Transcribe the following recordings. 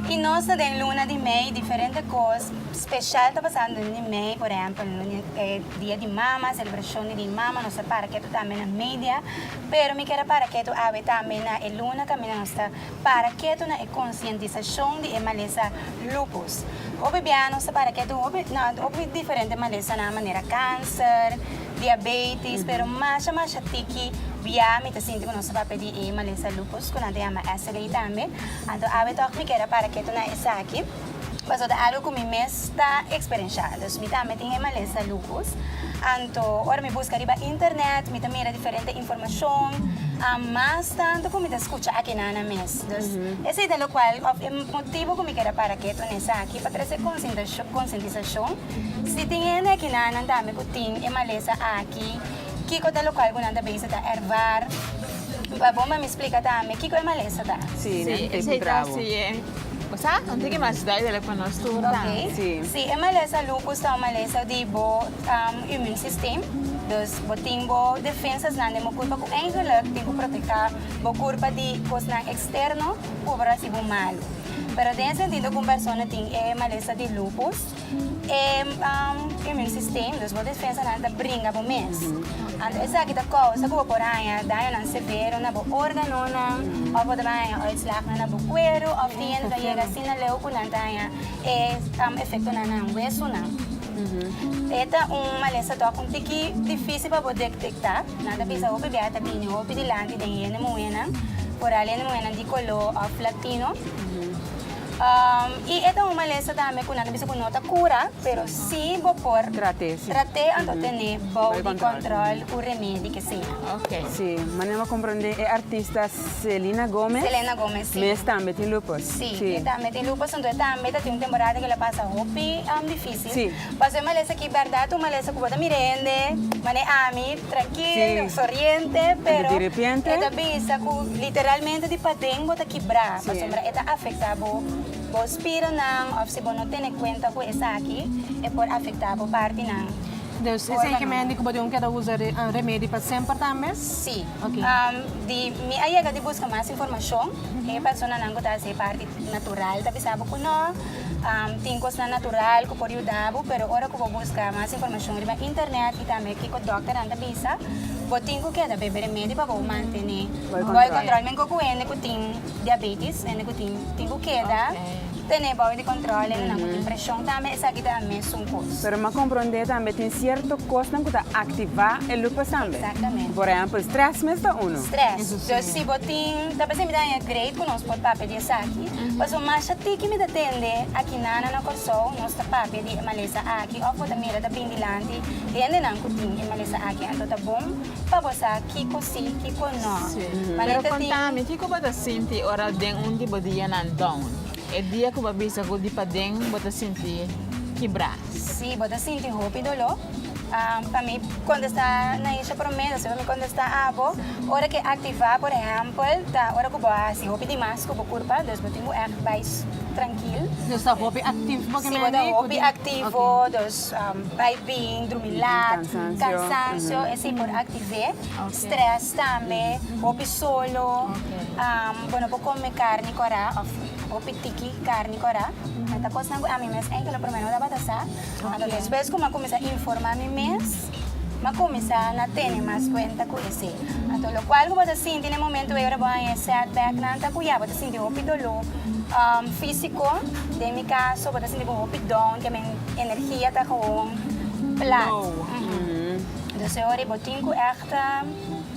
Y nos ta den luna di mei, diferente cos special ta pasa den luna di mei, por ehempel, dia di mama, celebracion di dia di mama, nos ta para ketu tambe na media, pero mi kier a para ketu awe tambe na e luna caminda nos ta para ketu na e concientisacion di e malesa lupus. Hopi bia nos ta para ketu hopi, na hopi diferente malesanan manera cancer, diabetes, pero masha masha tiki bia mi ta sinti ku nos ta papia di e malesa lupus ku nan ta yama SLE tambe. Anto awe tok mi keda para ketu na esaki, pasobra ta algu ku mi mes ta eksperenshá. Dus mi tambe tin e malesa lupus. Anto ora mi buska riba internet, mi ta mira diferente informashon, mas tantu ku mi ta skucha aki nana mes. Dus esei ta lokual òf e motibu ku mi keda para ketu na esaki, pa trese konsintisashon. Si tin hende aki na nan tambe ku tin e malesa aki, kiko ta lo kual ku nan ta bisa ta ervár? Pa bon pa mi splika tambe kiko e malesa ta. Sí, nan tep di brabo. Sí, esei ta hasié. Bo sa un tiki mas duidelijk pa nos tur tambe. Oké. Sí. Sí, e malesa lupus ta un malesa di bo imunsistem. Dus bo tin bo defensasnan den bo kurpa ku eigenlik tin ku protektá bo kurpa di kosnan eksterno, ú por hasi bo malu. Pero den e sentido ku un persona tin e malesa di lupus. E immune system, dus bo defensanan ta bringa bo mes. Anto esaki ta kousa ku bo por haña dañonan severo na bo órganonan òf bo ta bin haña uitslagnan na bo kueru òf tin hende ta yega asina leu ku nan ta haña e efektonan na nan wesunan. E ta un malesa dòk un tiki difísil pa bo detektá. Nan ta bisa hopi biaha ta bini hopi dilanti den hende muhénan, por hende muhénan di koló òf latino. I e ta un malesa tambe ku nan ta bisa ku no ta kura, pero si bo por trat'é anto tene bou di kòntròl ku remedi ke seña. Si, manera bo a komprondé e artista Selena Gomez. Selena Gomez, si. Mes tambe tin lupus. Si, e tambe tin lupus, anto e tambe ta tin un temporada ku el a pasa hopi difísil. Paso e malesa aki berdad un malesa cu bo ta mira hende manera ami, trankil, soriente, pero e ta bisa cu literalmente di paden bo ta kibra pasobra e ta afecta bo, bo spiranan of si bo no tene cuenta cu esaki e por afecta bo partinan. Dus e esaki mi hende cu bo tin cu keda usa remedi pa semper tambe? Si, di mi a yega di busca mas informacion e personanan cu ta haci e parti. Natural ta bisa bo ku no. Tin kosnan natural ku por yuda bo, pero ora ku bo buska mas informashon riba internet i tambe kiko dòkternan ta bisa, bo tin ku keda bebe remedi pa bo mantené bo e kòntròl. Men koko hende ku tin diabetis, hende ku tin, tin ku keda tene bo di kòntròl, hendenan ku tin preshon tambe, esaki ta mesun kos. Pero m'a komprondé tambe tin sierto kosnan ku ta aktivá e lupus tambe. Exactamente. Ku por ehèmpel strès mes ta unu. Strès. Dus si bo tin. Ta p'esei mi ta haña grei ku nos por papia di esaki, pasobra masha tiki mi ta tende aki na na Kòrsou nos ta papia di e malesa aki òf bo ta mira ta bini dilanti di hendenan ku tin e malesa aki. Anto ta bon pa bo sa kiko si, kiko nò. Pero konta mi, kiko bo ta sinti ora den un di bo dianan down, e dia ku bo a bisa ku di paden bo ta sinti kibrá? Si bo ta sinti hopi doló, pa mi kontestá na isha promé, asina mi kontestá abo. Ora ke aktivá, por ehèmpel, ta ora ku bo a hasi hopi di mas ku bo kurpa, dus bo tin ku ègt bai trankil. Si bo ta hopi aktivo, dus bai bing, drumi lat, kansansio esei por aktiv'é. Strès tambe, hopi solo, bo no por kome karni kòrá òf Hopi tiki carni cora. E ta cosnan cu ami mes enke lo prome no tabata sa. Anto despues cu m'a cuminsa informa mi mes, m'a cuminsa na tene mas cuenta cu esey. Anto locual cu bo ta sinti n'e momento wey ora bo a haña e setbacknan ta cu ya bo ta sinti hopi dolo fisico. Den mi caso bo ta sinti bo hopi down, ke men energia ta gewoon plat. Entonces ora bo tin cu echt.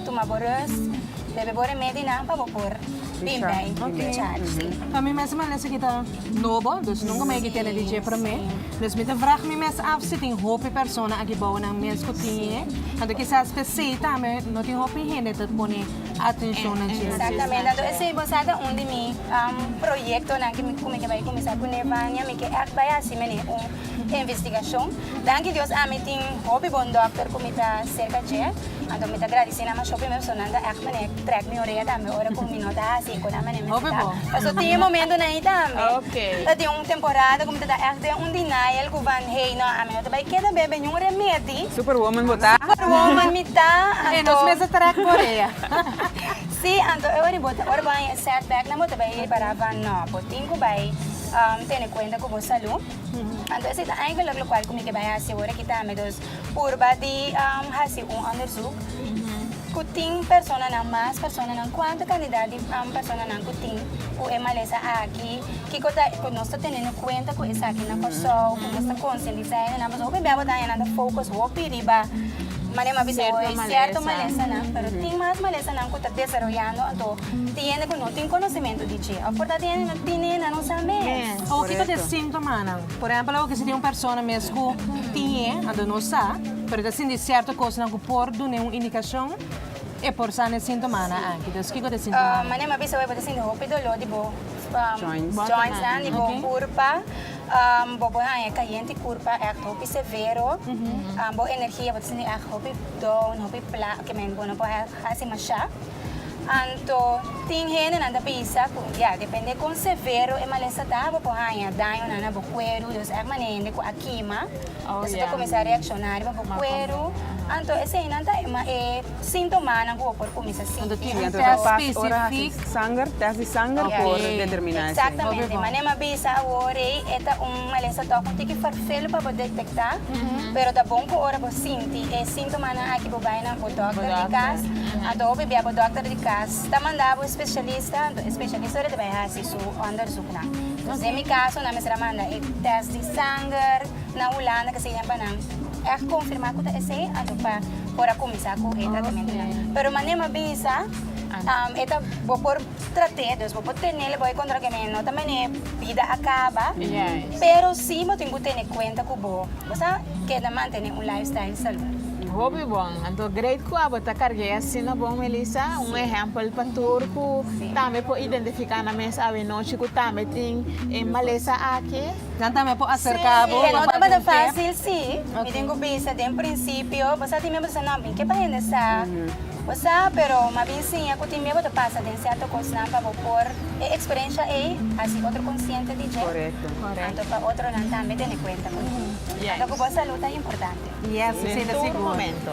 Tuma bo rust, bebe bo remedinan pa bo por bin bay di charge, si. Pa mi mes mane esaki ta nobo, dus nunka mai aki tene di dje promé. Dus mi ta vrag mi mes af si tin hopi persona aki bou nan mes ku tiñe. Anto kisas p'esei tambe no tin hopi hende ta pone atenshon na dje. Exactamente, anto esei bo sa ta un di mi proyectonan ku mi ke bay kuminsá ku Nevania, mi ke ègt bay hasi mene un investigashon. Danki Dios ami tin hopi bon dòkter ku mi ta serka dje. Anto mi ta gradisé nan masho primero paso nan ta ègt manera trèk mi orea tambe ora ku mi no ta hasi e konan manera mi hasi ta. Paso tin e momentonan ei tambe. Ta tin un temporada ku mi ta da ègt den un denial ku van hei nò ami no ta bai keda bebe niun remedi. Superwoman bo ta. Superwoman mi ta anto. E nos mes a trèk bo orea. Sí, anto e ora bo ta ora bo a haña e setbacknan bo ta bai repará van nò. Bo tin ku bai tene kuenta ku bo salú. Anto esei ta eigenlijk lokual ku mi ke bai hasi ora aki tambe. Purba di hasi un onderzoek ku tin personanan mas personanan kuantu kantidat di personanan ku tin ku e malesa aki kiko ta ku nos ta tene no kuenta ku esaki na Kòrsou ku nos ta konsientisá e nenan pasobra hopi bia bo ta haña nan ta focus hopi riba manera mi bisa hoy sierto malesanan pero tin mas malesanan ku ta desaroyando anto tin hende ku no tin konosementu di dje òf por ta tin hende no tin nenan no sa mes. Kiko ta e sintomanan? Por ehempel oke si tin un persona mes ku tiñe, anto no sa, pero e ta sinti sierto kosnan ku por dun'e un indikashon, e por sa na e sintomanan aki. Entonces kiko ta e sintomanan? Mane mi a bisa bo e por ta sinti hopi doló di bo jointsnan, di bo kurpa, bo por haña e kayente kurpa ègt hopi severo, bo energia bo ta sinti ègt hopi down, hopi plat, ke men bo no por. Hasi mashá. Anto tin hendenan ta bisa ku ya, depende kon severo e malesta ta, bo por haña dañonan na bo kueru. Dios èk mane hende ku a kima, esei ta kuminsá reakshoná riba bo kueru. Anto eseinan ta e síntomanan ku bo por kuminsá sinti. Un tèst spesifik. Sanger, tèst di sanger por determiná esei. Eksaktamente. Mane mi a bisa awor ei, e ta un malesta tòg un tiki farfel pa bo detektá, pero ta bon ku ora bo sinti. Si e sintomanan aki bo bai na bo dòkter di kas, anto hopi bia bo dòkter di kas ta manda bo spesialista, anto e spesialista lo ta bai hasi su òndersuknan. Nos den mi kaso nan mester a manda e tèst di sanger na Hulanda ke seña pa nan ègt konfirmá ku ta esei anto pa por a kuminsá ku e tratamentunan. Pero manera mi a bisa e ta bo por. Trate dus bo por tene le bo e kontra keme no ta mene bida a kaba pero si bo tin ku tene kuenta ku bo bo sa keda mantene un lifestyle salud. Hopi bon. Anto great ku abo ta karg'e asina bon Melissa, un ehempel pa tur ku tambe por identifiká nan mes awe nochi ku tambe tin e malesa aki. Nan tambe por acerca bo. Sí, no tabata fácil sí. Mi tin cu bisa den principio, bo sa tin mei bo ta sa no, mi ke pa hende sa. Bo sa, pero mi a bin siña cu tin mei bo ta pasa den cierto cosnan pa bo por e experiencia ei haci otro consciente di dje. Correcto. Correcto. Anto pa otronan tambe tene cuenta cu nan. Yes. Anto cu bo salud ta importante. Yes, mi sinta sigur. Den tur momento.